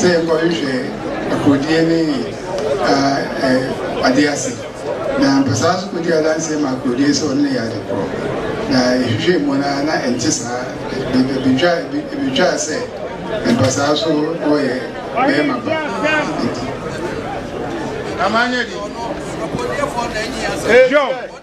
Sɛ yɛkɔhwehwɛ akorodie ne adeɛ ase na mpɛsaa nso kɔdi adanseɛ ma akorodie sɛ ɔno na ɛyɛ ade korɔ na yɛhwehwɛɛ mu no ara na ɛnte saa ɛbɛtwaa sɛ mpɛsaa nso na ɔyɛ bɛrima ba nti John.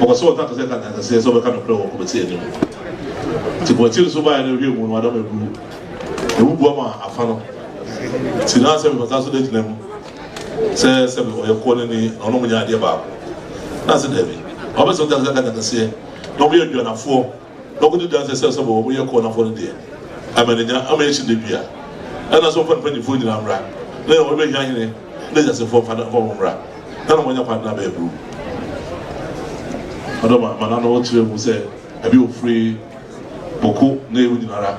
Wɔpɛ sɛ wɔka te sɛ kantankraseɛ sɛ wɔbɛka nokorɛ wɔ kɔmɛti anim. Nti kɔmɛti nso baeɛ no hwɛ mu no adam agu ɛmu bua ma afa no. Nti na sɛ mefata so da gyina mu sɛ sɛ me ɔyɛ kɔɔ no ni na ɔno mo nyɛ adeɛ baako. Na sɛ daabi. Wɔpɛ sɛ wɔka te sɛ kantankraseɛ na wɔyɛ aduanafoɔ. na ɔkɔdi danse sɛ sɛ bɔ wɔyɛ kɔn afɔre deɛ ama ne nya ama ɛkyi da bi a ɛna so mfa ne mpanyinfoɔ nyinaa mmra na yɛ wɔbɛ hia hene na gyasefoɔ mfa na wɔn mmra na na wɔnya kwan na bɛɛ buru ɔdɔ ma ma na na wɔkyerɛ mu sɛ ɛbi ofiri boko na ewu nyinara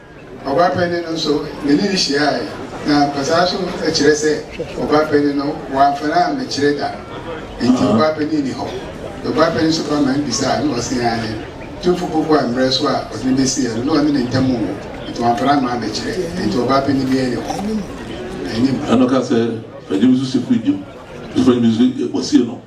Ɔbaa panyin no nso, me ne no hyiae, na ampa saa nso kyerɛ sɛ ɔbaa panyin no wamfa no ammekyere da. Enti ɔbaa panyin nni hɔ. Na ɔbaa panyin nso fa man bisae, na ɔsee aane. Tumfo Poku ammrɛ so a ɔde no besiee no, na ɔne no ntam nwo, enti wamfa no amma ammekyere. Enti ɔbaa panyin biara nni hɔ. Anim. Ɛnna ɔkaa sɛ, Fa gyem nso si firi gyem, nso fa gyem nso si firi gyem, ɔsee no,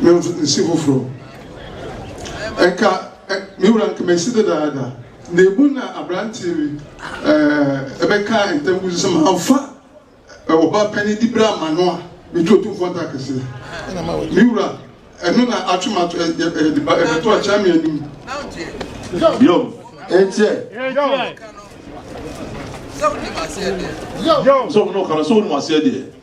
me nsi foforɔ nka me wura nka masi dadaada na emu na aberanteɛ bi ɛbɛka ntam gu sɛ manfa ɔba panyin di bra ma no a metu otu fɔn ta kɛseɛ me wura ɛno na atwe ma ɛbɛto akyɛ me anim yo ɛnkyɛ sɛ wo ne ɔkara sɛ wo ne waseɛ deɛ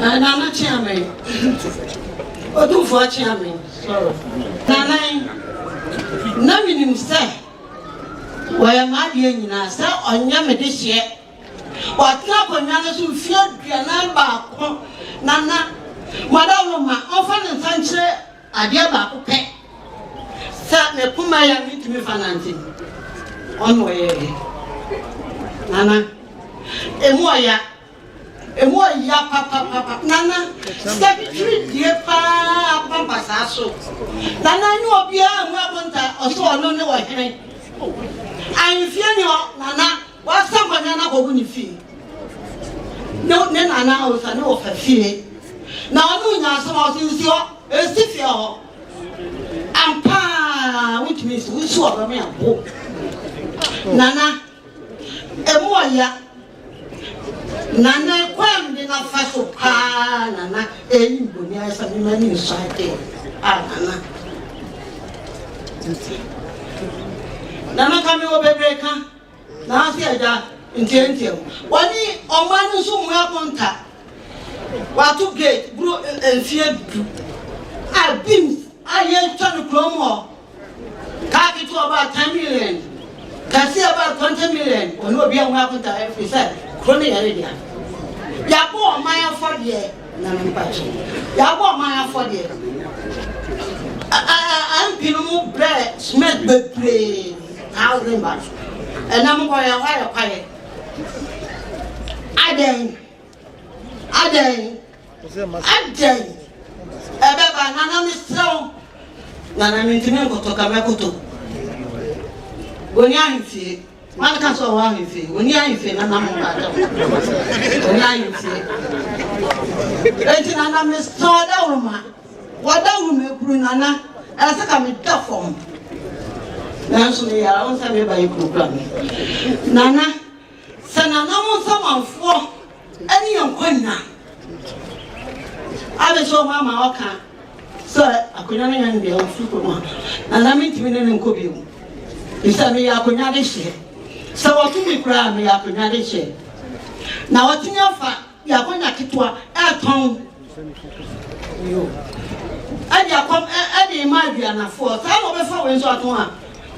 Nana kyea me. Odumfoɔ kyea me. Sorry. Nanan, na menim sɛ wɔyɛ m'adeɛ nyinaa sɛ ɔnyɛ me de hyeɛ. Watena akonnwa no so mfeɛ aduanan baako. Nana, madaworo ma ɔmfa ne nsa nkyerɛ Adeɛ baako pɛ, sɛ me poma yi a mentumi mfa nante no, ɔno ɔyɛɛ dɛ. Nana, ɛmu ɔya, ɛmu ɔya papapapa. Nana, sɛkitiri die paa pampa saa so. Nana ne obiara mu abonta ɔsɛ ɔno ne ɔhene. Ahemfie ni hɔ, Nana. W'asa bɔne no abɔ wo ne fie ne ne nana ɔsa ne ɔfa fie na ɔne wo nya asɛm a ɔse nsi hɔ ɛsi fie hɔ ampaa wotumi nsi wosi wɔ bɛme abo nana ɛmu ɔya nana kwam de nafa so paa nana ɛyi mboni ayɛ sɛ mema ne nsɔ ade a nana nana ka me wɔ bebree ka N'afe agya nteatea mu. Wɔne ɔman no nso mua konta. Wɔato gate boro mfeɛ du a beams a yɛtwa no kurom hɔ. Kaa ketewa baa ten million, kɛseɛ baa twenty million. Wɔne obiara mua konta ɛfiri sɛ kuro no yɛ ne dea. Yɛabɔ ɔman afɔdeɛ. Na me mpa kyɛw. Yɛabɔ ɔman afɔdeɛ. Ɛ-ɛ-ɛ MP no mo brɛɛ cement bebree, thousand bags. Ɛnɛ mo kɔyɛ hɔ ayɛ kwaeɛ. Adɛn? Adɛn? Adɛn? Ɛbɛba, Nana mesrɛ wo. Nana mentumi nkɔtɔ ka mɛkoto. Boni ahemfie. Wan ka sɛ ɔwɔ ahemfie? Ɔni ahemfie na nam ba atɛm. Ɔni ahemfie. Eti na na mesɔ dawuruma. Wɔda wuruma ekuru na na ɛsɛ ka meda fam. Nanso me yara wɔn sɛ meba ekuru kura me. Nana sɛ nananom samanfoɔ. Ɛne yɛn nkwa nyinaa. Ade nso wɔ hɔ ama ɔka sɛ akonnwa no yɛ nea ɔfi fam a, na na mentumi ne no nkɔ bio. Efisɛ meyɛ akonnwa de hyɛ. Sɛ wɔto me koraa a, meyɛ akonnwa de hyɛ. Na wɔatumi afa yɛn akonnwa ketewa ɛretɔn. Ɛde akɔm ɛde rema aduanafoɔ saa na ɔbɛfa wei nso ato ha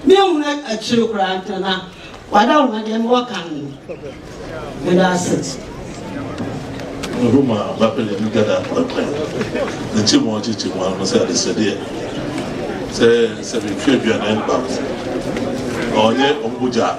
menhunu akyire koraa nti na wada wo ho deɛ mewɔ kan no meda ase Roma bapɛlɛ mi gada pɛpɛ ne kye mu ɔkye kye mu ano sɛ adesɛdeɛ sɛ sɛ metwi aduane baako ɔnyɛ ɔmo gya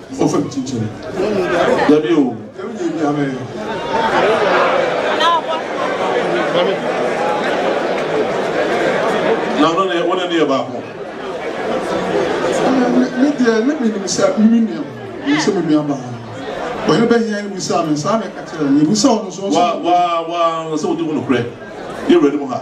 Ofe chinchin. Dabi o. Kemi nye bi ame. Na ɔno ne wo ne ne yɛ baako. Me deɛ na menim sɛ me me nua menim sɛ me nua baa ɔhene bɛhia no bisaa me saa na ɛka kyerɛ no mebusa ɔno nso wa wa wa sɛ wodi ho nokorɛ yɛ wura no mu ha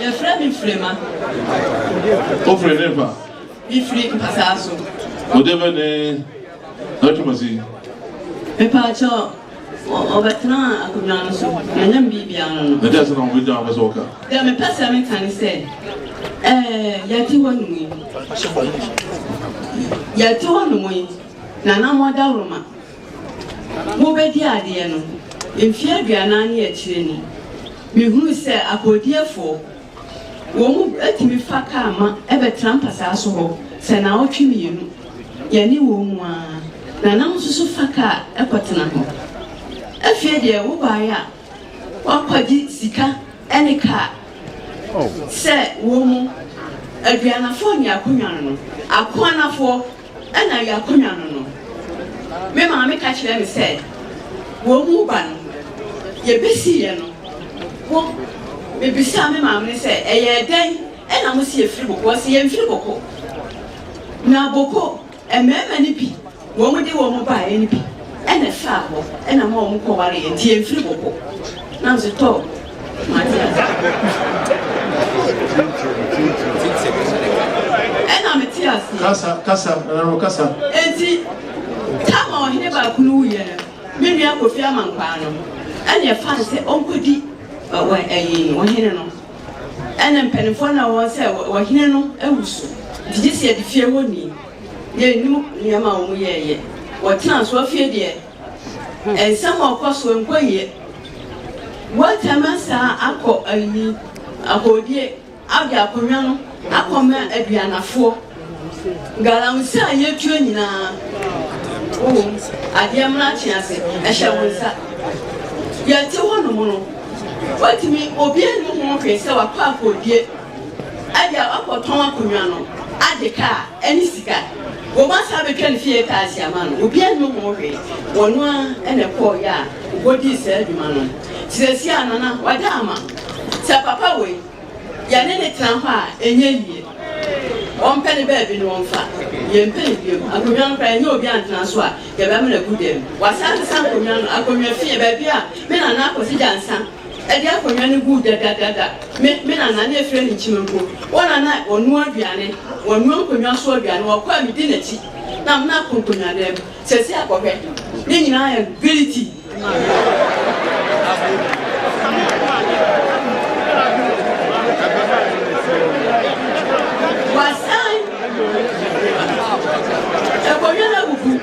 Yɛfrɛ me Frema. Wofiri he fa? Mefiri Mpasaa so. Ɔde bɛ ne adwuma si? Mepaakyɛ ɔbɛtena akonnwa no so na nyɛ me biribi ano no. Ɛdeɛ sɛ na wɔn bɛgya wɔn sɛ wɔka? Deɛ mepɛ sɛ meka ne sɛ ɛɛ yɛte hɔ nom yi yɛte hɔ nom yi na na mɔda woroma. Mobɛdi adeɛ no, mfeɛ aduanan ne akyire ni, mehunu sɛ akoodiefoɔ, wɔn mu tumi fa kaa ma ɛbɛtena mpasaa so hɔ sɛ naawɔtwe mmienu, yɛne wɔn mu ara, na na mososo fa kaa kɔtena hɔ. Afei deɛ wobaeɛ a, woakɔgye sika ne kaa sɛ wɔmmu aduanafoɔ ne akonwa no, akoanafoɔ Ɛna yɛ akonnwa no no, me maame ka kyerɛɛ me sɛ wɔn mu ba no yɛbɛsiiɛ no wo mebisaa me maame no sɛ ɛyɛɛ dɛn ɛna mo si yɛfiri boko ɔse yɛmfiri boko na boko mmarima no bi wɔn de wɔn baeɛ no bi ɛna ɛfaa hɔ ɛna ma wɔn kɔwareɛ nti yɛmfiri boko na nso tɔ ɛna mete ase kasa kasa ɛna kasa enti tama ɔhene baako no wuyɛ no me nua kofi amankwaa no ɛna ɛfa no sɛ ɔnkɔdi ɛyi ɔhene no ɛna mpanimfoɔ na wɔn sɛ ɔhene no awu so nti gye sɛ yɛde fie hɔ ni yɛnim nneɛma a wɔn yɛɛyɛ wɔtena so afie deɛ Nsɛm a ɔkɔ so nkɔ yie. Wɔatwam asan akɔ ayi ahodie abɛ akonnwa no akɔma aduanafoɔ. Galamsey a yɛtua nyinaa wowom. Adeɛ mmra twe ase. Ɛhyɛ wo nsa. Yɛte hɔnom no, watumi obiara nni ho hwee sɛ wakɔ akɔdie. Agya wakɔtɔn akonnwa no, agye kaa ne sika. Wɔn asan abɛtwa ne fie kaa asi ama no. Obiara nnim ho hwee. Ɔno ara na ɛkɔeɛ a ɔkɔdii saa adwuma no. Seesei Nana wada ama. Sɛ papa wei, yɛne no tena hɔ a, ɛnyɛ yie. Ɔmpɛ ne baabi na ɔmfa. Yɛmpɛ no bio. Akonnwa no koraa, ɛnyɛ obi antena so a, yɛbɛma no agu dam. Wasan asesa akonnwa no, akonnwa fie, baabi a me Nana akɔsegya nsã. Ɛde akonnwa no guu dɛdɛdɛdɛ. Me, me nana, na efirɛ ne nkyim mpo, wɔn na na wɔnoa aduane, wɔnoa nkonnwa so aduane, wɔkɔ a medi n'akyi, na me na akɔ nkonnwa dan mu. Seesei akɔhwɛ, ne nyinaa ayɛ no giliti. Wɔasan akonnwa no abubu.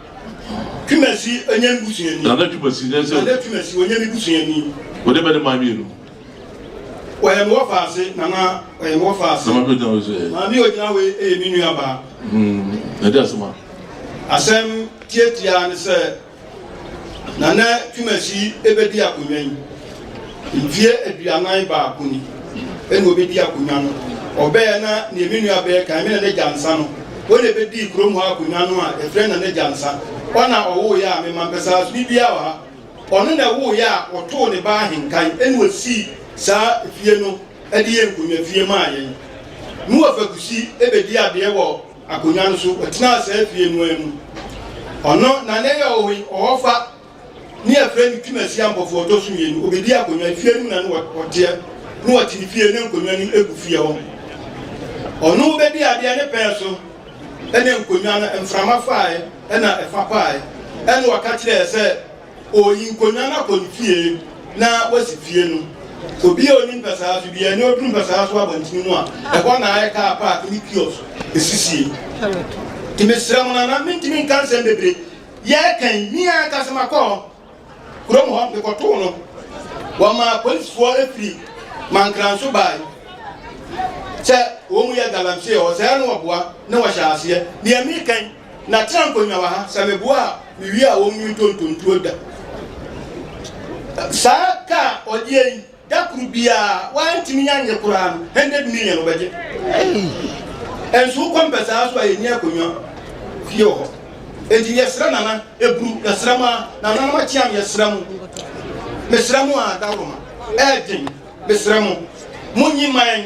Twumasi, ɔnyɛ me busuani. Nana Twumasi, nyɛ sɛ. Nana Twumasi, ɔnyɛ me busuani. Wɔde mmarima mmienu. Wɔyɛ me wɔfa ase, Nana, wɔyɛ me wɔfa ase. Na maame ogyina wei so yɛ. Maame ogyina wei yɛ me nua baa. Hmm, na di asɛm a. Asɛm tiatia ne sɛ, Nana Twumasi ebedi akonnwa yi. Mfeɛ aduanan baako ni na ɔbɛdi akonnwa no. Ɔbɛɛ na neɛ me nua bɛɛ kan, me Nana Gyansa no, ɔna ɛbɛdii kurom ha akonnwa no a ɛfrɛ Nana Gyansa. Ɔna ɔwooyɛ a me ma mpɛ saa so ne biaa wɔ ha. Ɔno na ɛwooyɛ a ɔtoo ne ba ahenkan ɛna ɔsii saa fie no ɛde yɛ nkonnwa fie maa yɛn. Ne wɔ fakusi ɛbɛdi adeɛ wɔ akonnwa no so, ɔtenaa saa fie no ara mu. Ɔno na nɛyɛ ɔhɔfa. ne yɛfrɛ no Tim Asia Mpɔfoɔ ɔtɔ so mmienu, ɔbɛdi akonnwa, efie anim na no wɔteɛ, ne wɔte ne fie ne nkonnwa anim egu fie hɔ. Ɔno bɛdi adeɛ ne pɛɛ so ɛne nkonnwa no mframa faae ɛna ɛfa paae ɛne ɔka kyerɛɛ sɛ ɔyi nkonnwa no akɔ ne fie na wasi fie no. Obi a ɔni mpɛsaa so deɛ ne ɔduru mpɛsaa so abɔntene mu a ɛhɔ na ayɛ kaa paak ne kios ɛsisie. Nti mesrɛ mo nana mentumi nka nsɛm bebree Yɛrekan me ankasa makɔ kurom hɔ mekɔtoo no. Wɔmaa polisifoɔ firi Mankransou baeɛ sɛ wɔyɛ galamsey hɔ. Sɛɛ na wɔboa na wɔhyɛ aseɛ. Deɛ merekan na tena nkonnwa wɔ ha, sɛ meboa a mewie a wɔnwie ntontontuo da. Saa kaa ɔdeɛ yi Da koro biara wantumi anyɛ koraa no hundred million wɔbɛgye. Hey! Nso wokɔ mpɛ saa nso a yɛnni akonnwa fie wɔ hɔ. Enti yɛsrɛ nana eburu yɛsrɛ mu a nana no akyea no yɛsrɛ mu. Mesrɛ mu a daworo ma ɛɛdwen mesrɛ mu monyi man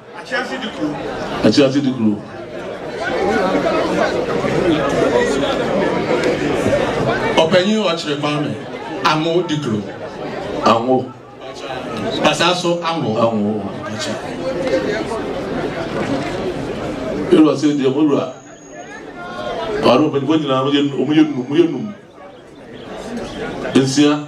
Akyerɛse de kuro. Ɔpanyin ɔkyerɛ Kwame. Anwo de kuro. Anwo. Basaa so anwo. Anwo. Ewura sɛ deɛ mo wura. Ɔno mpanyinfoɔ nyinaa wɔyɛ wɔn yɛ num wɔn yɛ num nsia.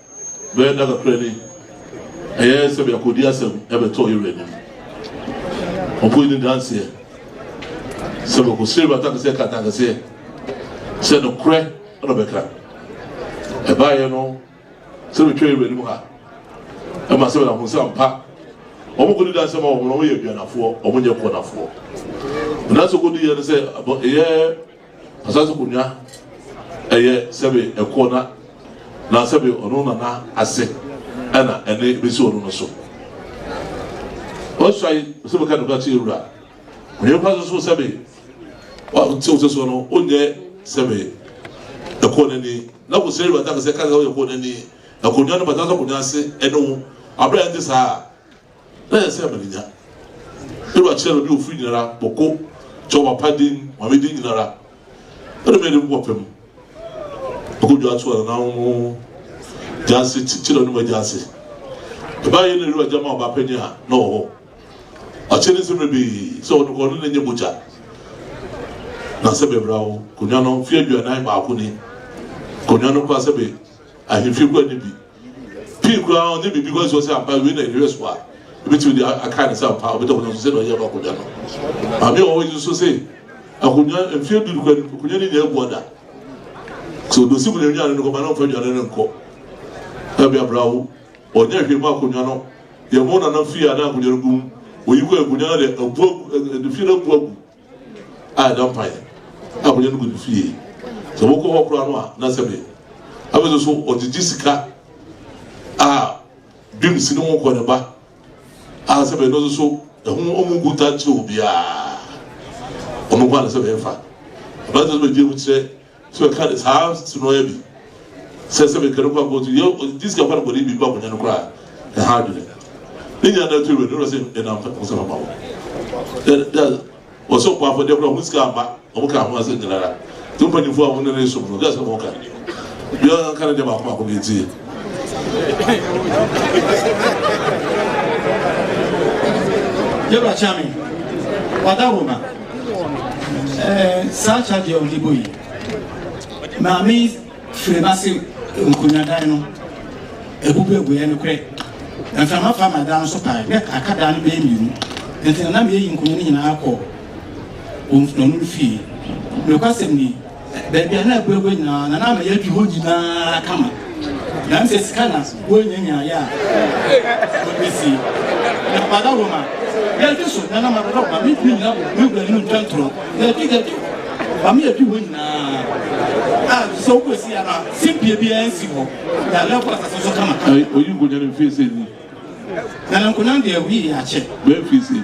Bɛyɛ nna kakra ni, ɛyɛɛ sɛ biakoodi asɛm bɛtɔɔ Yeru anim. Ɔkɔe ne danseɛ sɛ bɛkɔ Seru atankɛseɛ ka atankɛseɛ sɛ nokorɛ na ɔbɛka. Ɛbaeɛ no sɛ bɛtwa Yeru anim ha ɛma sɛ bɛda ho sɛ ampa wɔn kɔdi danseɛ ma wɔn no wɔyɛ aduanafoɔ, wɔn nyɛ kɔnafoɔ. Nanso kɔduiɛ no sɛ ɛyɛ Asase Munya ɛyɛ sɛbe ɛkoɔ na na sɛbe ɔno na na ase ɛna ɛne ɛbɛsi ɔno no so. Ɔsuai sɛ bɛka nokora kyerɛ wura. Ɔyɛ kwa so so sɛbe ɔte wo sɛ soɔ no onyɛ sɛbe ɛkoɔ n'ani na kò sɛ wura ta sɛ ka sɛ ɔyɛ koɔ n'ani ɛkonwa no bata sɛ konwa ase ɛne wo abira ɛnte saa a na yɛ sɛ yɛ mene nya. Ewura kyerɛ bɛbi ofiri nyinara, bɔko kyɛ wɔ papa din, maame din nyinara. Ɔde mɛ dem kɔ pɛ mu. Ɔkɔ dwa to anana ho mo gyanse kyerɛ ne mo gyanse. Ɛbaa yɛ na ewura gyama ɔba pɛ nye a na ɔwɔ hɔ. Ɔkyɛ ne nsɛm bɛbi sɛ ɔde kɔ ne ne nye mogya. Na sɛ bɛbra wo konwa no fie aduanan baako ni. Konwa no kɔ asɛ bɛ ahemfie kɔ ani bi. Pii koraa no, ɔnyɛ biribi kwan so sɛ ampa wei na nhwɛ so a ebetumi de akae no sɛ ampa ɔbɛda akonnwa so sɛ na ɔyɛ no akonnwa no. Maame a ɔwɔ yi nso se akonnwa mfeɛ du kura akonnwa no nyɛ agua da. So dosi mu na nnuane no nkɔma na ɔmfa nnuane no nkɔ. Ɛbi abira wo ɔnyɛ hwee mu akonnwa no yɛ mo nana fie a na akonnwa no gum oyi kɔ akonnwa no de abu agu de fie no abu agu. a ɛda mpaeɛ a wɔyɛ no gu ne fie. Sɛ wɔkɔ hɔ koraa no a, na sɛ me. Afei nso so ɔgyegye sika a bim si ne ho kɔ ne ba a sɛ bɛn no nso so ɛho ɔmo ngu ta nkyerɛ obiara. Ɔno nko a na sɛ bɛn fa. Abɛn sɛ bɛgye mu kyerɛ So ɛka ne saa sunoɛ bi sɛ sɛ mekɛ no kɔ akɔtu yɛ ɔdi sika fa no bɔne bi ba akonnwa no koraa ne ha adwene ne nyina na ɛto wɛ no sɛ ɛna mfa ho sɛ mama wo wɔsɛ ɔkɔ afɔdeɛ koraa ho sika ama ɔmo ka ho asɛ nyinara nti mpanyinfoɔ a wɔne ne som no gɛsɛ mo ka biara nka ne deɛ baako baako ne ɛtie yɛbra kyame wada homa Ɛɛ saa charge a ɔde bɔ yi maame firi n'ase nkonnwadan no ebubu ebuɛ no korɛ mframa fa ma dan no so paa dɛ aka dan no bɛyɛ mmienu nti na nam yɛyi nkonnwa no nyinaa kɔ wɔn fie nokwasɛm ni. Baabi a na abura hɔ nyinaa, na na ama yɛadi hɔ nyinaa kama. Nanso sɛ sika na wɔanyanyaaeɛ a, wɔde bɛsie. Na Brada Roma, yɛadi so, na na ma Brada Roma mentumi nnyina me wura anim ntwa ntorɔ. Yɛadi, yɛadi, ma me yɛadi hɔ nyinaa a sɛ wokɔsi a na simpie biara nsi hɔ. Na lɛbo asase so kama. Oyi nkonya no mfie sɛn ni? Nana nkonya deɛ, wii akyɛ. Bɛn mfie sɛn ni?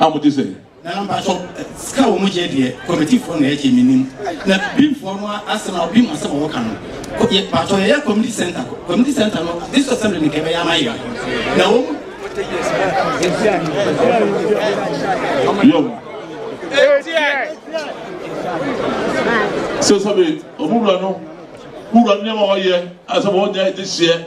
a wɔte sɛ. na mpatsɔ sika a wɔn gye deɛ kɔmitifoɔ na ɛgye mi nim na bimfoɔ no asɛm a obi mu asɛm a wɔka no yɛ mpatsɔ yɛyɛ community center community center no this assembly ne kɛbɛyɛ ama yɛ na wɔn. sɛ sɛbe ɔmo wura no wura nneɛma ɔyɛ asɛm ɔnyɛ ɛde hyɛ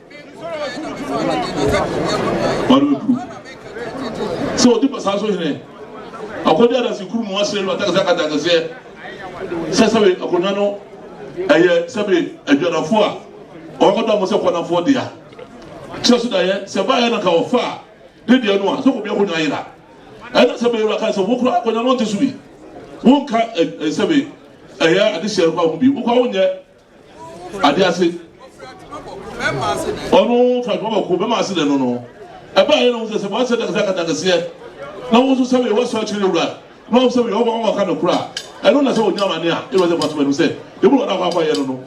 Ɔrebɛpuru sɛ ɔdi basaa so hene akɔdi adase kuru mu asere no atakasakata akɛseɛ sɛ sɛbe akonnwa no ɛyɛ sɛbe adwadafoɔ a ɔbɛkɔda mo sɛ kɔnafoɔ dea kyerɛ so daeɛ sɛ baeɛ no ka ɔfa a ne deɛ no a sɛ kɔbi akonnwa yera ɛna sɛbe yɛwura ka sɛ wokora akonnwa no nte so bi wonka sɛbe ɛyɛ adehyɛ no kɔ ho bi wokɔ wonyɛ Ade ase. Ɔno Fatima Bako bɛma ase dɛ no no ɛbaa yɛ na ɔhu sɛ sɛ wɔasɛ dɛ sɛ katakɛseɛ na wɔn nso sɛ wei wɔsɔ akyire ne wura na wɔn sɛ wei wɔn wɔn aka no kora ɛno na sɛ ɔnya amane a ɛwɔ sɛ Fatima nim sɛ ebi wɔn akɔ akɔ yɛ no no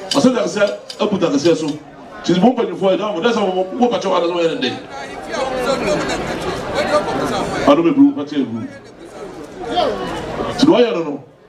ɔsɛ dɛ sɛ abu takɛseɛ so kyiri mu mpanyinfoɔ ɛda mo dɛ sɛ wɔn wɔn pakyɛ wɔn adasɛ wɔn yɛ ne dɛ ɔno bɛ buru pakyɛ eburu ti na ɔyɛ no no.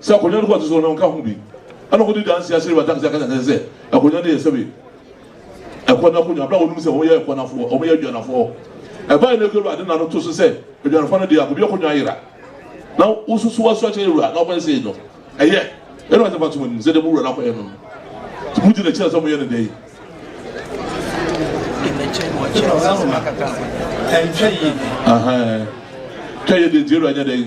sɛ akonnwa no kɔ so so no nka ho bi. Ɛna wɔde dansi ahyɛ Rebata kɛse akasa kɛse sɛ akonnwa no yɛ sɛbe ɛkɔ n'akonnwa bere a wɔnom sɛ wɔyɛ ɛkɔ n'afoɔ, wɔyɛ adwanafoɔ. Ɛbae no kura ade na no to so sɛ adwanafoɔ no deɛ akɔbi akonnwa ayera na wososo aso akyɛ awura na wɔkɔyɛ sei no. Ɛyɛ ɛna wɔsɛ fatom anim sɛ deɛ mo wura no akɔyɛ no no. Mo gyina akyira sɛ mo yɛ no dɛ yi. Ɛnkyɛ yie. Ɛnkyɛ yie deɛ nti awura nyɛ dɛ yi.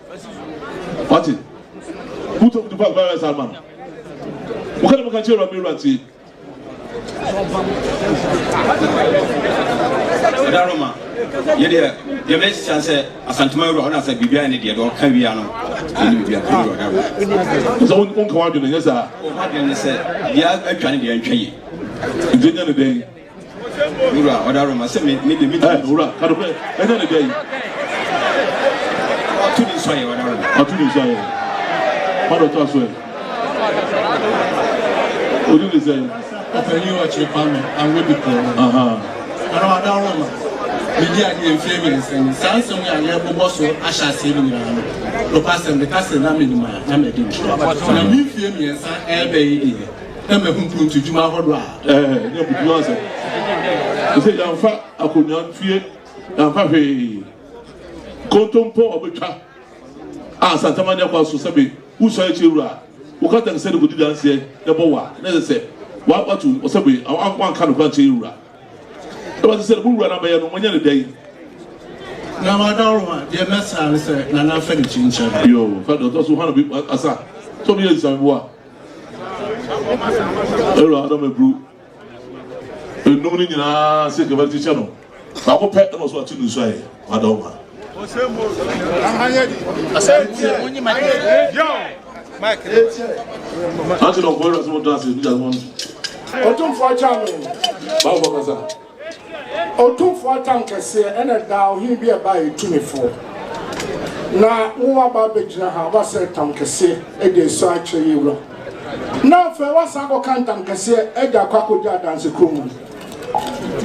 Wate? Wotɔ kutu pa virus ama no. Woka dɛ moka kyerɛ wura me Ɛda Roma, yɛ deɛ deɛ mɛhyɛ sɛ asantuma wura ɔna sɛ biribiara ne deɛ deɛ ɔka wia no ɛne biribiara kɔ wura ɔda sɛ wonka wadwene nyɛ saa ɔmadwene ne sɛ deɛ atwa ne deɛ ntwa yi nti nya ne dɛn Wura ɔda roma sɛ me me de me ti. Wura ka nokorɛ ɛnyɛ ne dɛ yi. Ɔtu ne nsu ayɛ ɔda roma. Ɔtu ne nsu ayɛ. Ɔda ɔtɔ aso ɛ. Odi ne sɛ. Ɔpanyin ɔkyerɛ pa me anwe bi kɔɔ no. Aha. Ɛna ɔda roma. Medi adeɛ mfie mmiɛnsa ni. Saa nsɛm yi a yɛbobɔ so ahyɛ aseɛ no nyinaa no, nokwasɛm meka sɛ na menim a na madi mu. Na me mfie mmiɛnsa ɛɛbɛ yi deɛ. na mahu mpuruntudwuma ahodoɔ a. Ɛɛ nyɛ bubu asɛm ɛsɛ yɛamfa akonnwa ntue yɛamfa hwee kontompo ɔbɛtwa a asantama nyɛ kɔ so sɛbe wosua akyire wura woka tank sɛ de kɔdi danseɛ na ɛbɔ wa na ɛsɛ sɛ watu ɔsɛbe wanka no kora nkyɛ wura ɛbɛsɛ sɛ mo wura no abɛyɛ no monyɛ ne dɛn na madaworo ma deɛ mɛsra ne sɛ nana fɛ ne kyi nkyɛn yoo fɛ dɔtɔ so hana bi asa sɛ ɔmeyɛ nsamiboa Aaron adam aburu enum no nyinaa sɛ nka bɛkyekyɛ no baako pɛ ɛna ɔso ate no nsu ayɛ wada ɔma ante na ɔbɔ ɛwura sɛ wɔdɔ ase ne gya wɔn ɔtomfo akyɛ ano bawo kasa Otumfoɔ atam kɛseɛ ɛna ɛdaa ɔhene bi a ɛbaa yɛ tumifoɔ. Na wo waba abɛgyina ha, woasɛ ɛtam kɛseɛ ɛde ɛsɔ akyerɛ yɛ wura. Na afei woasan akɔka ntam kɛseɛ ɛde akɔ akɔdi adanse kuro mu.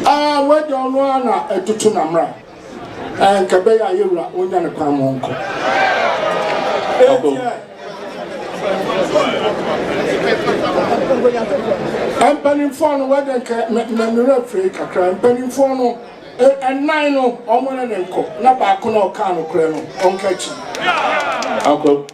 Aa w'agya ɔno ara na ɛtoto na mmra. Ɛɛ nka ɛbɛyɛ a yɛ wura ɔnya ne kwan mo nkɔ. Ɛntiɛ. Mpanimfoɔ no wɔde nka mmerɛ firi kakra mpanimfoɔ no ɛnan no wɔn ne ne nkɔ na baako na ɔka anokorɛ no ɔnka akyi.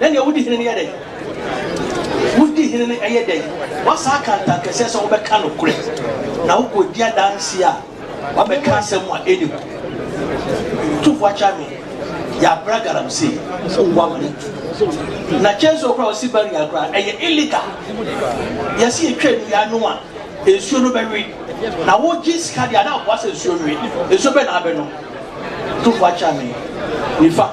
Na nea wodi hene no yɛ dɛn? Wodi hene no yɛ dɛn? Woasan aka ntankɛseɛ sɛ wobɛka nokorɛ, na wokɔdi adanseɛ a woabɛka asɛm a ɛnni hɔ. Tu fo akyɛ me, yɛabrɛ galamsey wɔ wo amena tu. Na kyɛn sɛ wokora wo sibarian koraa, ɛyɛ illegal. Yɛse yɛtwa nnua ano a, nsuo no bɛwe. Na wogye sika deɛ a, na aboa sɛ nsuo nwe. Nsuo bɛn na abɛnom? Tu fo akyɛ me, nifa.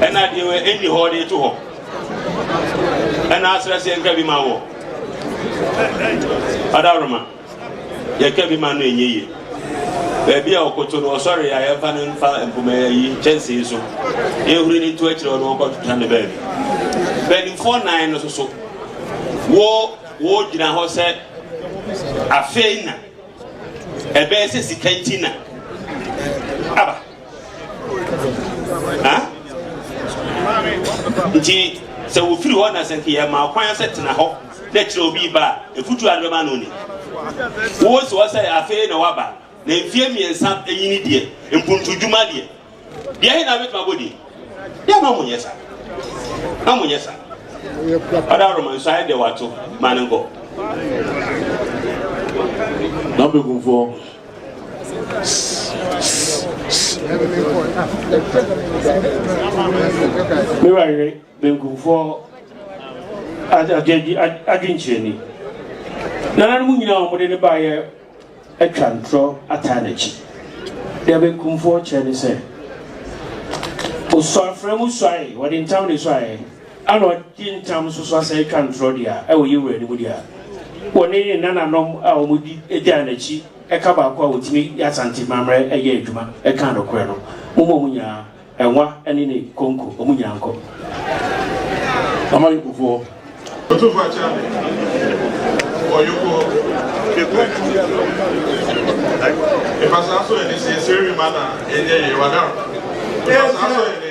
ɛna adeɛ wɔ ɛnni hɔ de to hɔ ɛna asra sɛ nka bi ma wɔ adaworoma yɛka bi ma no ɛnyɛ yie baabi a ɔkoto no ɔsɔre a yɛmfa no mfa mpoma yi kyɛnsee so yɛhuri no nto akyerɛ ɔno ɔkɔtotwa no baabi mpanimfoɔ nan no soso wo wogyina hɔ sɛ afei na ɛbɛyɛ sɛ sika nti na aba nti sɛ wofiri hɔ na sɛ nka yɛma kwan sɛ tena hɔ na kyerɛ obi ba a ɛfutu a no bɛma no ni wowɔ si hɔ sɛ afei na waba na mfie mmiɛnsa ɛnyini deɛ mpuntudwuma deɛ deɛ he na bɛtuma bɔdi deɛ ma monyɛ sa na monyɛ sa ɔda woroma nso ayɛ deɛ wato ma no nkɔ na bɛkumfoɔ Me wura yere benkumfoɔ adwenkyerɛni. Nananom nyinaa a wɔde no baeɛ atwa ntorɔ ataa n'akyi. Deɛ benkumfoɔ kyerɛ ne sɛ, ɔsuafrɛ mu suae, wɔde ntam na ɛsuaeɛ. Ana ɔgye ntam nso so asan atwa ntorɔ deɛ a ɛwɔ yɛn Wura anim deɛ a wɔne ne nananom a wɔdi gyaa n'akyi ɛka baako a wɔtumi yɛ Asante mamerɛ ɛyɛ adwuma ɛkaa nokorɛ no momma wɔn nyinaa ɛnwa ɛne ne konko wɔn nyinaa nkɔ Amanyokofoɔ. Ɔtumfoɔ akyɛ ɔyokoɔ ɛfa saa so ɛne sɛ ɛsɛ rema na ɛnyɛ yɛ wadar ɛfa saa so ɛne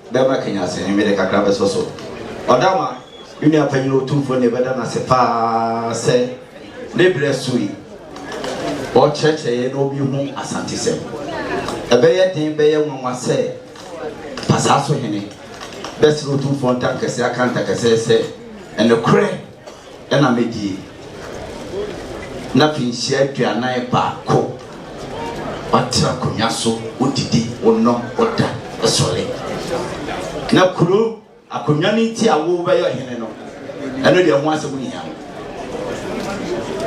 Bɛma kanya ase he, mede kakra bɛsɔ so. Ɔda ma me nua panyin otumfo no yɛbɛda no ase paa sɛ ne berɛ soe ɔrekyerɛkyerɛ yɛn na obi hu Asantesɛm. Ɛbɛyɛ den bɛyɛ nwanwa sɛ Pasaa so hene bɛsere otumfoɔ ntankɛseɛ aka ntakɛsɛɛ sɛ nokorɛ. Ɛna me die na finhyia aduanan baako watena akonwa so wodidi wonom woda sɔre na kuro akonwa no nti a wobɛyɛ ɔhene no ɛno deɛ ho asɛm nhia no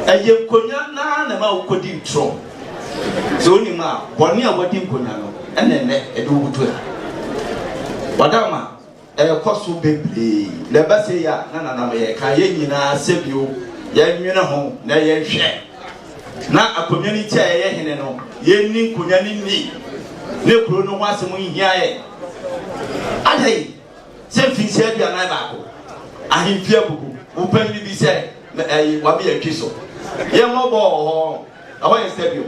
ɛyɛ nkonwa naa na ma wokɔdi ntorɔ sɛ wonim a bɔne a wadi nkonwa no ɛna ɛnɛ ɛde wobutu ha wadama ɛrekɔ so bebree na ɛba sei a, na nana meyɛ ka yɛn nyinaa sɛ bio yɛnwene ho na yɛnhwɛ na akonnwa no ti a yɛyɛ hene no yɛnni nkonnwa no nni ne kuro no ho asɛm nhia yɛ adɛn sɛ mfinhyia aduanan baako ahemfie abubu wo panyin bi sɛ ɛyi wame yɛtwi so yɛmmɔ bɔɔ hɔ ɛhɔ yɛ sɛ bio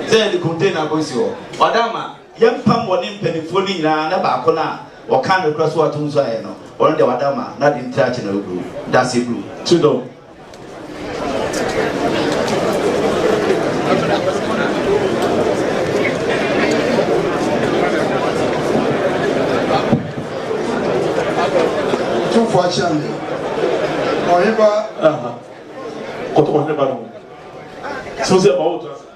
sɛ yɛde container kɔsi hɔ ɔda ma Yɛmpam wɔne mpaninfoɔ no nyinaa na baako no a ɔkaa nokorɛ so ato nso ayɛ no, ɔno deɛ wada ma n'ade nti akye no agu dase du. To dɔ. Tumfoɔ akyea me. Ɔheba. Kɔtɔ ɔheba no. Sɛ sɛ ma wo to ase.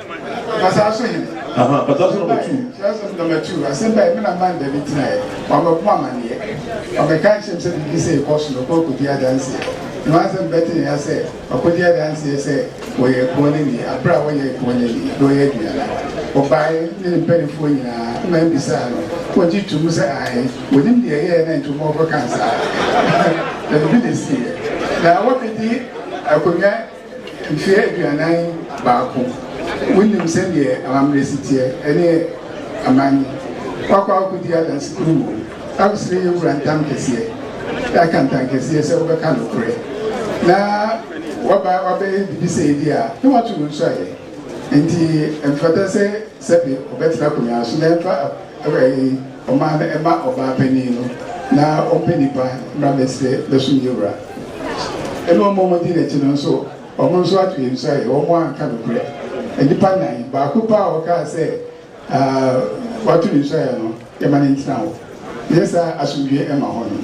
Basaa so he? Aha, Basaa so na ɔbɛtu. Basaa so na ɔbɛtu. Asɛm bae, me na Amanda bi tenaeɛ. Wabɛbɔ amaneɛ. Wabɛka akyerɛ me sɛ biribi sei kɔ so na ɔkɔ akɔdi adanseɛ. Na wɔn asɛm bɛte ne ya sɛ wakɔdi adanseɛ sɛ wɔyɛ ɛpoɔ no ni. Aberɛ a wɔyɛ ɛpoɔ no ni, na wɔyɛ aduane no, ɔbaeɛ ne ne mpanimfoɔ nyinaa ma mbisaa no, na ɔgye to mu sɛ ae, wɔnim deɛ ɛyɛɛ na nti wɔma ɔkɔkaa saa. Na biribi na ɛsiiɛ. Na wɔbɛdi akonnwa. Mfeɛ aduanan baako, wonim sɛdeɛ amammerɛ si teɛ, ɛne aman yi. Woakɔ akɔdi adanse kurumu o, absrɛ yɛ wura ntam kɛseɛ, aka ntam kɛseɛ sɛ wobɛka nokorɛ, na woaba abɛyɛ biribi sɛ yei deɛ a, na woato no nso ayɛ. Enti ɛmfata sɛ. Sɛbe ɔbɛtena akonwa so na ɛmfa ɛɛɛ ɔman no mma ɔbaa panin no, na ɔmpɛ nnipa mmra mmɛsrɛ bɛsom yɛn wura. Ɛna ɔma wɔn dii n'akyi no nso, wɔn nso ato yɛn su ayɛ, wɔn anka nokorɛ. Nnipa nnan, baako pɛ a ɔkaa sɛ aa wɔato ne su ayɛ no, yɛma no ntena hɔ. Ɛyɛ saa a, asomdwoeɛ mma hɔ no.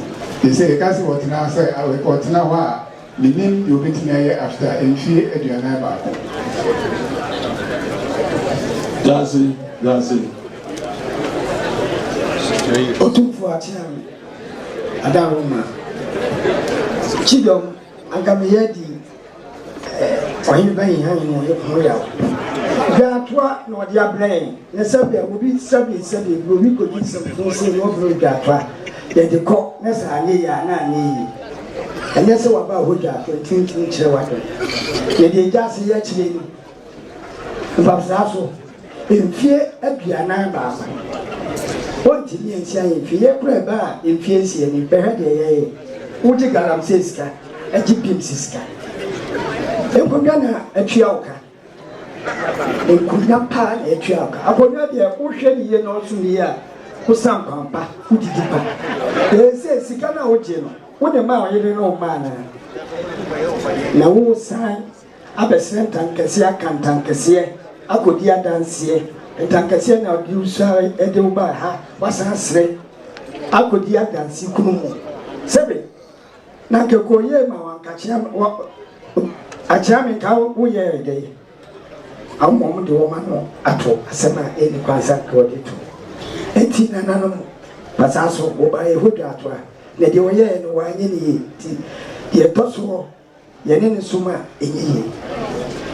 Enti sɛ yɛka sɛ ɔtena sɛ ɔtena hɔ a, Minnim deɛ ɔbɛtumi ayɛ after mfie aduanan baako. Dase dase Otumfoɔ Akyeame Adaworoma Kyidɔm anka me yɛ di eh, Ɔhene Bahinhane ho yaw Dwaatoa na ɔde abrɛ yɛn. Na sɛdeɛ obi sɛdeɛ sɛdeɛ buroni kɔdi nsɛm so nso na ɔbrɛ ogya atoa. Yɛde kɔ na sɛ anyɛ yie a na anyɛ yie. Ɛnyɛ sɛ waba a hogya ato nti wontumi nkyerɛ w'adwene. Yɛde egya ase yɛ akyire no ɛbam saa so mfie aduanan baako. Wontumi ansia yɛn fie. Yɛn koraa ɛbaa mfie nsia ni. Bɛhwɛ deɛ yɛyɛ. Wogye galamsey sika, gye beams sika. Nkonnwa na atua wo ka. Nkonnwa paa na ɛtua wo ka. Akonnwa deɛ wohwɛ no yie na ɔsom yie a, wosa nkwan pa, wodidi pa. Ɛsɛ sika no a wogye no, wode maa ɔyere ne wo mma anaa? Na wosan abɛsrɛ ntankɛseɛ aka ntankɛseɛ akɔdi adanseɛ. Ntankɛseɛ na ɔde wo sɔre de wo baa ha, wasan asrɛ akɔdi adanse kunu mu. Sɛbe na nka kɔ yie ma wɔn nka kyea wɔ akyea me nka wo yɛ ɛdɛ yi ama wɔn de wɔn ano ato asɛm a ɛni kwan sɛ nka wɔde to nti nananom pasaa so wɔba yɛ hɔ dwa ato a na deɛ wɔyɛɛ no wɔanyɛ ne yie nti deɛ ɛtɔ soɔ Yɛne no som a, ɛnyɛ yie.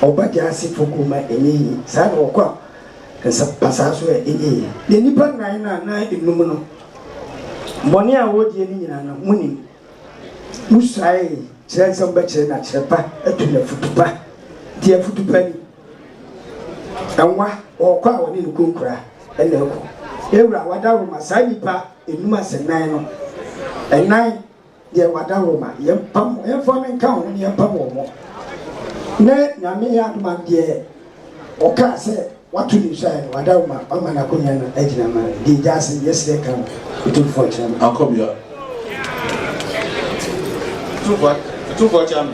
Ɔba Gyaasefo kurom a, ɛnyɛ yie. Saa na ɔkɔ nsa pasaa so a, ɛnyɛ yie. Yɛn nnipa nnan no anaa nnum no, bɔne a wɔredie no nyinaa no, monim. Mosuae kyerɛ nsɛm bɛkyerɛ na kyerɛ pa atu no afutu pa. Deɛ afutu pa ni, Nwa, ɔkɔ a ɔne no kunkura na ɛkɔ. Ewura, wadaworoma, saa nnipa nnum asɛ nnan no, nnan Deɛ wada hɔ ma yɛn mpam wɔn, yɛn mfa no nka ho na yɛn mpam wɔn mo, na Nyame yɛ adom a deɛ ɔkaa sɛ wato ne nsuaɛ no wada hɔ ma wama no akonya no agyina ma no, deɛ gya ase yɛsrɛ ka ho Otumfoɔ kyerɛ no. Akɔbea Otumfoɔ kyerɛ no,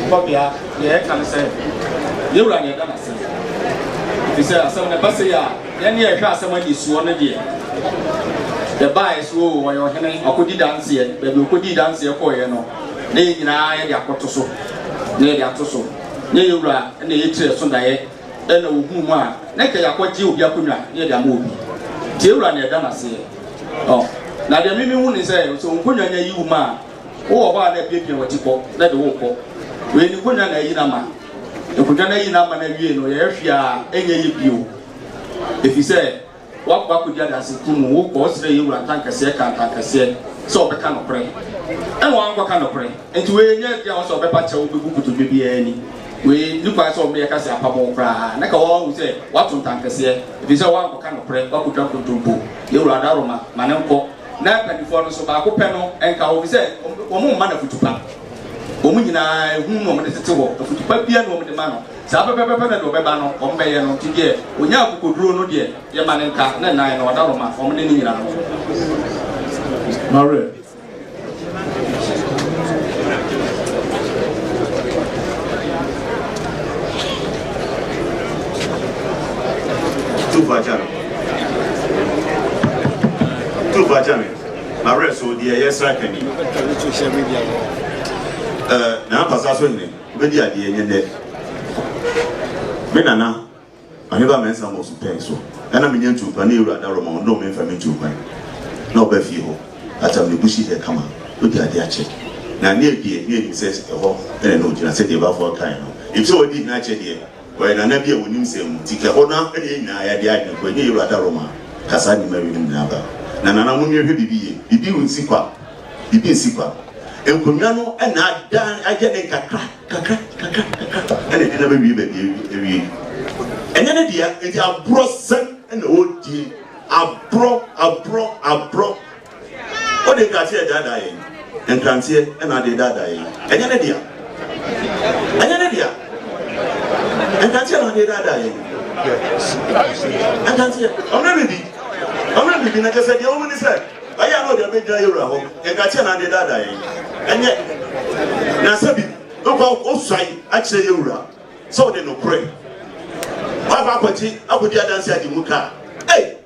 Akɔbea deɛ yɛka no sɛ yɛn Wura na yɛda no ase, ɛfiri sɛ asɛm no ɛba sei a. Yɛn deɛ hwɛ asɛm anisoɔ no deɛ yɛbaeɛ sɛ oo ɔyɛ ɔhene ɔkɔdi danseɛ, baabi ɔkɔdii danseɛ kɔeɛ no na yɛn nyinaa yɛde akɔto so na yɛde ato so na yɛn wura na ɛyɛ tiri ɛso daeɛ ɛna ɔhunu mu a na nka yɛakɔgye obi akonnwa na yɛde ama obi nti yɛn wura na ɛda no aseɛ ɔ na deɛ mimi hu ne sɛ sɛ nkonnwa nya yi wo mu a wowɔ hɔ a na apiapia wati kɔ na de wo kɔ wei ne nkonnwa na ayi no ama Nkotwa no ayi n'amane awie no, ɔyɛ hwee a ɛnyɛ yɛ bio, ɛfiri sɛ wakɔ akɔdi adanse kuo mu, wokɔ ɔsrɛ yɛ wura ntankɛseɛ ka ntankɛseɛ sɛ ɔbɛka nokorɛ, ɛna wankɔka nokorɛ, nti wei nyɛ deɛ a ɔsɛ ɔbɛpa kyɛw bɛbu nkotodwe biara ani, wei ni kwan sɛ ɔmeyɛ kase apamo wo koraa, na ka wahu sɛ wato ntankɛseɛ, ɛfiri sɛ wankɔka nokorɛ, wakɔtwa nkontompo, yɛ wura adaworoma, ma no nkɔ, na mpanimfoɔ no nso, baako pɛ no nka wɔn, ɛfiri sɛ wɔn mma no afutupa. Wɔn nyinaa, ehu na wɔde tete hɔ, afutu pa biara na wɔde ma no. Saa pɛpɛpɛpɛ na deɛ ɔbɛba no, wɔbɛyɛ no. Nti deɛ ɔnya akokoduro no deɛ, yɛma no nka ne nan na ɔda hɔ ma wɔn ne no nyinaa no. Maria. Tuvaca. Tuvaca. Mawerɛ so deɛ ɛyɛ sraka ni. Ɛɛ Nana Pasa so hene wobɛdi adeɛ nyɛ nnɛ. Me Nana Ɔheba Mɛnsa Mosu pɛn so ɛna menya ntuu kwan ne Ewura Adaroma ɔndom me mfa me ntuu kwan na ɔba fie hɔ atam ne busi hɛ kama wadi adeɛ akyɛ na ne abie ne anim sɛ ɛhɔ ɛna na ɔgyina sɛdeɛ Bafo kaeɛ no efisɛ wadi hene akyɛ deɛ Ɔyɛ nana bi a wɔnim sɛn mu, nti kɛ hɔ no ara na yɛn nyinaa yɛde adwene kɔ, ɛnyɛ Yowura Darrow ma ka saa nneɛma winom nyinaa ba. Na nana mo nwie hwɛ biribi yie, biribi rensi kwa, biribi nsi kwa. Nkonnwa no na ada ayɛ ne nkakra, kakra, kakra, kakra, ɛna ɛde nam awie baabi awie. Ɛnyɛ ne dea, nti aborɔsɛm na ɔredie, aborɔ, aborɔ, aborɔ. Wode nkateɛ adaadaa yɛn, nkranteɛ na ade redaadaa yɛn. Ɛnyɛ ne dea. Ɛnyɛ ne dea. Nkranteɛ na ade redaadaa yɛn. Nkranteɛ. Ɔmmerɛ bibi. Ɔmmerɛ bibi na kyɛ sɛ deɛ wɔn ni sɛ ɛyɛ ano deɛ bɛgyina yɛ wura hɔ. Nkranteɛ na ade redaadaa yɛn. Ɛnyɛ. Na sɛ bibi wokɔ osuae akyerɛ yɛ wura sɛ ɔde nokorɛ. Wafa akɔgye akɔdi adanse agye mu kaa. Ei!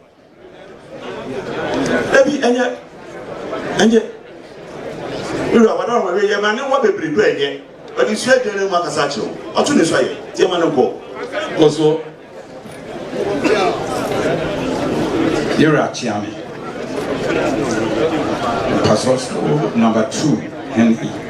Ebi ɛnyɛ ɛnyɛ wura wada wɔn ɛyɛ yɛ ma ne wa bebree do ɛnyɛ ɔde sua aduane ne mu akasa akyerɛw ɔto ne so ayɛ yɛ ma ne nkɔ kɔ so yɛwura akyea me pastor school number two henry.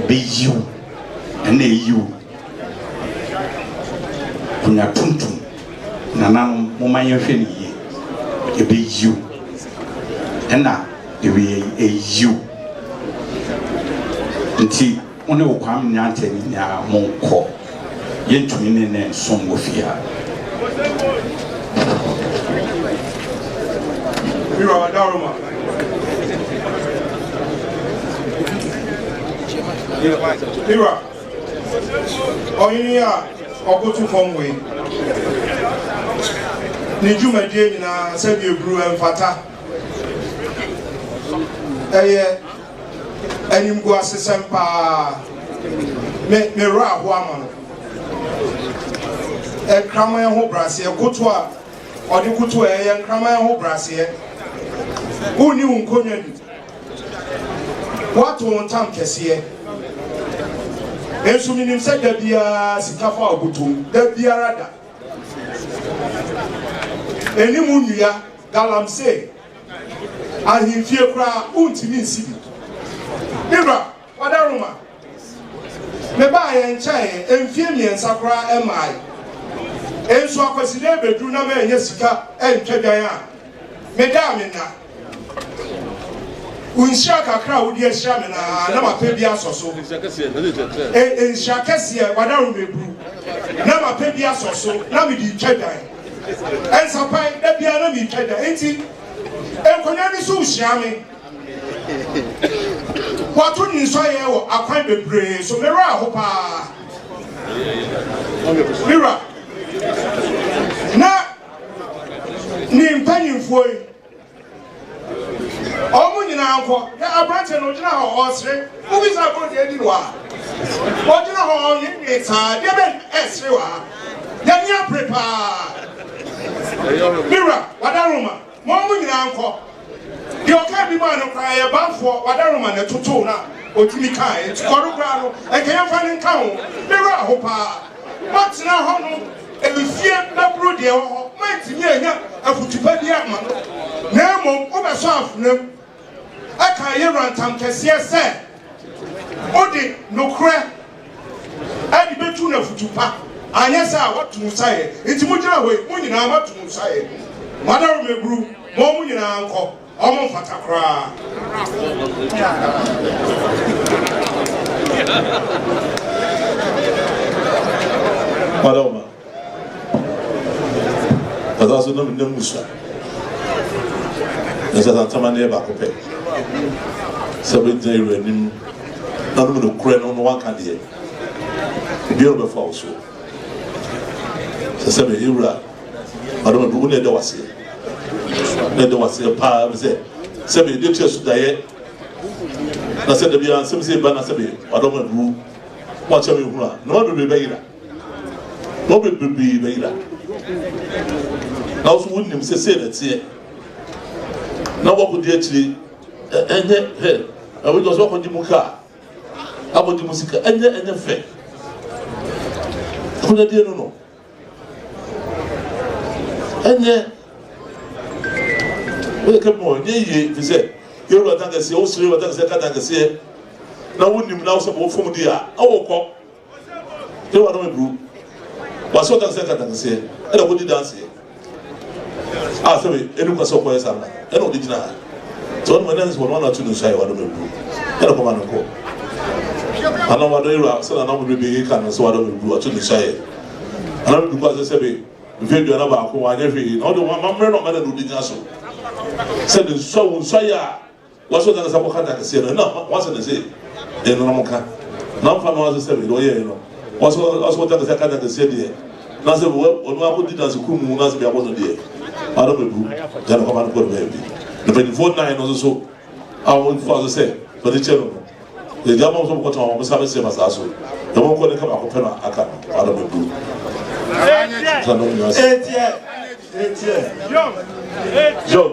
Ɛbɛyi wo ɛna ɛyi wo Konya tuntum nananom momma yɛnhwɛ no yie Ɛbɛyi wo ɛna ɛwiei ɛyi wo Nti wo ne wo Kwame Nyantɛ nyinaa monkɔ. yɛntumi ne no nsom wɔ fie ha. Ira, ɔhene a ɔkoto fam wei ne dwumadie nyinaa sɛdeɛ ɛburu ɛmfata ɛyɛ Animguasesɛm paa. Me me werɛ ahoɔ ama no. Nkraman ho braseɛ koto a ɔde koto a ɛyɛ nkraman ho braseɛ. Wonni wo nkonnwa ni. Woato wo ntam kɛseɛ. Nso menim sɛ da biara sika fa wo botom. Da biara da. Anim nnua galamsey. Ahemfie koraa wontumi nsi bi. Me wura, wada Roma? Mebaa yɛn nkyɛn ɛ, mfie mmiɛnsa koraa ɛmmae. Nso Akwasideɛ bɛduru na mannya sika antwa dwan a, meda a menna. Wo nhyira kakra a wode ahyira me no ara na mapɛ bi asɔ so. Ɛ, nhyira kɛseɛ, wada Roma aburu. Na mapɛ bi asɔ so, na mede retwa dwan. Nsapae, da biara na mitwa da, enti nkonnwa no so hyia me. Wɔato nsɔyɛɛ wɔ akwan bebree so. Me werɛ aho paa. Me wura, na ne mpanimfoɔ yi Wɔn nyinaa nkɔ. Hwɛ aberanteɛ no, ɔgyina hɔ ɔresere. Wobisa agoru deɛ adi no wɔ ha? Ɔgyina hɔ ɔnweenwee saa. Deɛ bɛn na ɛresere wɔ ha? Yɛn ani abere paa. Me wura, w'adaroma ma wɔn nyinaa nkɔ. Deɛ ɔkaa bi maa no koraa yɛ banfoɔ, w'adaroma na ɛtotoo no a ɔtumi kaeɛ. Nti kɔre koraa no, anka yɛmfa no nka ho. Me wura aho paa. Moatena hɔ no mfeɛ bɛboro deɛ ɛwɔ hɔ, moantumi annya afotu pa biara amma no, na mmom wobɛsɔ afenam. Ɛkaa Yewura ntam kɛseɛ sɛ wode nokorɛ de bɛtu no afotu pa, anyɛ saa a woatu mo saeɛ. Enti mogyina hɔ yi, mo nyinaa moatu mo saeɛ. Moadaworo me aburu, mo mo nyinaa nkɔ. Ɔmo mfata koraa. Madam Ɔsan so nam nam musa. Ɛsɛ sɛ ntama no yɛ baako pɛ. Sɛ bɛgyina yɛwura anim na nom no korɛ no na wanka deɛ. Obiara bɛfa wo so. Sɛ sɛ bɛyɛ wura. Adomɛbo, wo na yɛda wo ase. Na yɛda wo ase paa bi sɛ sɛ bɛ de kyerɛ so dayɛ. Na sɛ dabi ara nsɛm sɛ ba na sɛ bɛ Adomɛbo wa kyɛ me hunu a na ma bebree bɛ yira. Na ɔbɛ bebree bɛ yira. Na ɔso wo nim sɛ sɛ na teɛ. Na wɔkɔ di akyire ɛnyɛ hɛ. Ɛwɔ gyɔ so wɔkɔ gye mu kaa. Akɔ gye mu sika ɛnyɛ ɛnyɛ fɛ. Kunya die no no. Ɛnyɛ woyɛ kapɔn, ɛnyɛ yie, ɛfiri sɛ yɛwɔ wata kɛseɛ, wosere wata kɛseɛ kata kɛseɛ na wonim na wosɛ bɔ fam di a ɛwɔ kɔ yɛwɔ adɔm aduru wasɛ wata kɛseɛ kata kɛseɛ ɛna kɔdi danseɛ Ah, sɛ me, ɛnu kwa sɛ ɔkɔyɛ saa na ɛna ɔde gyina ha. Sɛ ɔno ɛna nsɛ ɔno anatu no nsu ayɛ wadɔ meburu. Ɛna kɔma no nkɔ. Ana wadɔ yɛwura sɛ na namu bebe yɛ ka no sɛ wadɔ meburu watu no nsu ayɛ. Ana meburu kwa sɛ sɛ me, mfe aduana baako wanyɛ hwee na ɔde wɔn amammerɛ na ɔmɛna na ɔde gyina so. Sɛ ne nsu awo nsu ayɛ a, Wɔahyɛ da no sɛ wɔka da kɛseɛ no, ɛno na wɔahyɛ no sɛ ɛno na wɔka, na wɔmfa no ara sɛ sɛbe deɛ wɔyɛeɛ no. Wɔsɛ wɔsɛ wɔte aka sɛ aka da kɛseɛ deɛ, na sɛ wɔ ɔno ara kɔdi danse kuo mu na sɛ biabɔ no deɛ, ano bɛbu, gya no kɔma no kɔ ne baabi. Na mpanimfoɔ nnan no nso so a wɔfa so sɛ wɔde kyɛ no no, yɛgya ama wɔn sɛ wɔkɔtɔn wɔn nsa bɛsɛ ma saa so, na wɔnkɔ ne ka baako pɛ na aka no, ano bɛbu. Ɛteɛ, ɛteɛ, ɛteɛ. John.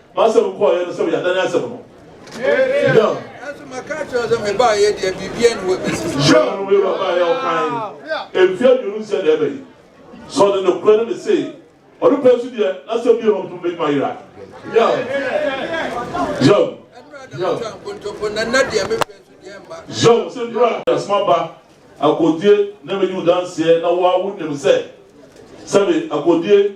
M'asɛm kɔeɛ no sɛ wɔyɛ adane asɛm no. John. Nanso maka akyerɛ sɛ mebaeɛ deɛ biribiara ni hɔ bɛsi so. John no wei babaeɛ ɔkae mfie aduonu nsɛ na ɛbɛyi. Sɛ ɔde nokorɛ no ne sei. Ɔno pɛ nso deɛ n'asɛm bi hɔ ntom bɛtumi ayera. John. John. John sɛ nnura de asoma ba akodie na mɛdi wo danseɛ na wo a wonim sɛ sɛbe akodie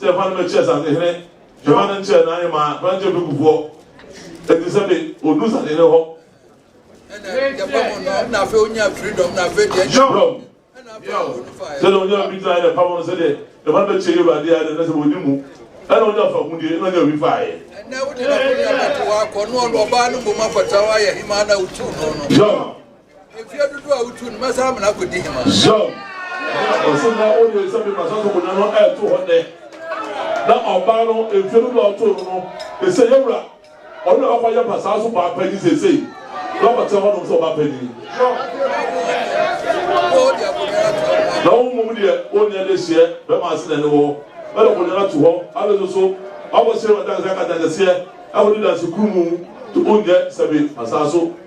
Sɛ yɛfa no ma ɛkyerɛ Sasehene, yɛfa no nkyerɛ n'ahemaa Frankyɛ Fekufoɔ, enti sɛ be ɔduru Sasehene hɔ. Yɔm. Sɛ na ɔnya bi traeɛ na ɛpam no sɛ deɛ yɛfa no bɛkyɛ y'Awurade ara deɛ na sɛ ɔnni mu ɛna ɔnya fagudeɛ na ɔnya bi faeɛ. Yɔm. Mfie dodoɔ a wotu no, mɛsan ama no akɔdi hema. Zhang, ɔse na ɔyɛ sɛ me masa so konya no ɛɛto hɔ nɛ, na ɔbaa no mfie dodoɔ a ɔtoo no no, ɛsɛ yɛwura, ɔno na ɔkɔ yɛ basaa so baa panyin seesei, na ɔkɔtena hɔ nom sɛ ɔbaa panyin. Na wo mmom deɛ ɔnni adehyeɛ, bɛma ase na ɛne wɔ, ɛna konya no ato hɔ, afei nso so ɔkɔhyɛ wɔ danseɛ aka danseɛ, ɛkɔdi danse kuru mu, to ɔnyɛ sɛ me masa so.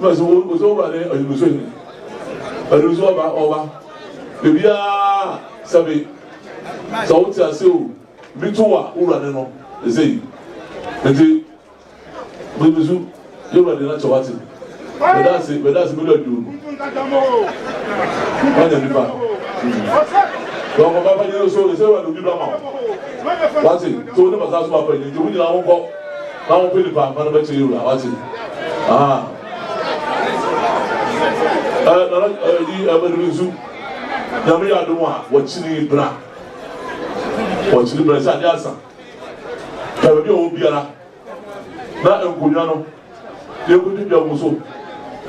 Mɛsɛ wo wo sɛ wura ne adunuso ni adunuso ɔba ɔba bebia sɛbe sɛ wo te ase o bi to wa wura ne no ɛsɛ yi nti adunuso yɛ wura de na kyɛ wate bɛda ase bɛda ase bɛda aduo no wanya nipa na ɔkɔba pa nyɛ so ɛsɛ wura de obi bra ma wate sɛ wo ne basa so apa nyɛ nti wo nyina wo nkɔ na wɔpɛ nipa nkwa no bɛkyerɛ wura wate aha ɛɛ nana ɛyi ɛbɛduru nsu nyame yɛ adum a wɔkyiri bra wɔkyiri bra sɛ adeɛ asa ɛbɛ bi a wɔn biara na nkonnwa no yɛkɔdi dwa mu so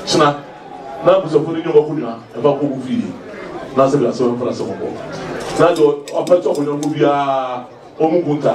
kyena na abusafo no nyɛ wɔkɔ nwa ɛfa kɔ mu fie na sɛ bi asɛ wɔn mfra sɛ wɔn kɔ na deɛ ɔpɛ tɔ kɔnyɔnko biara wɔn mu nkunta.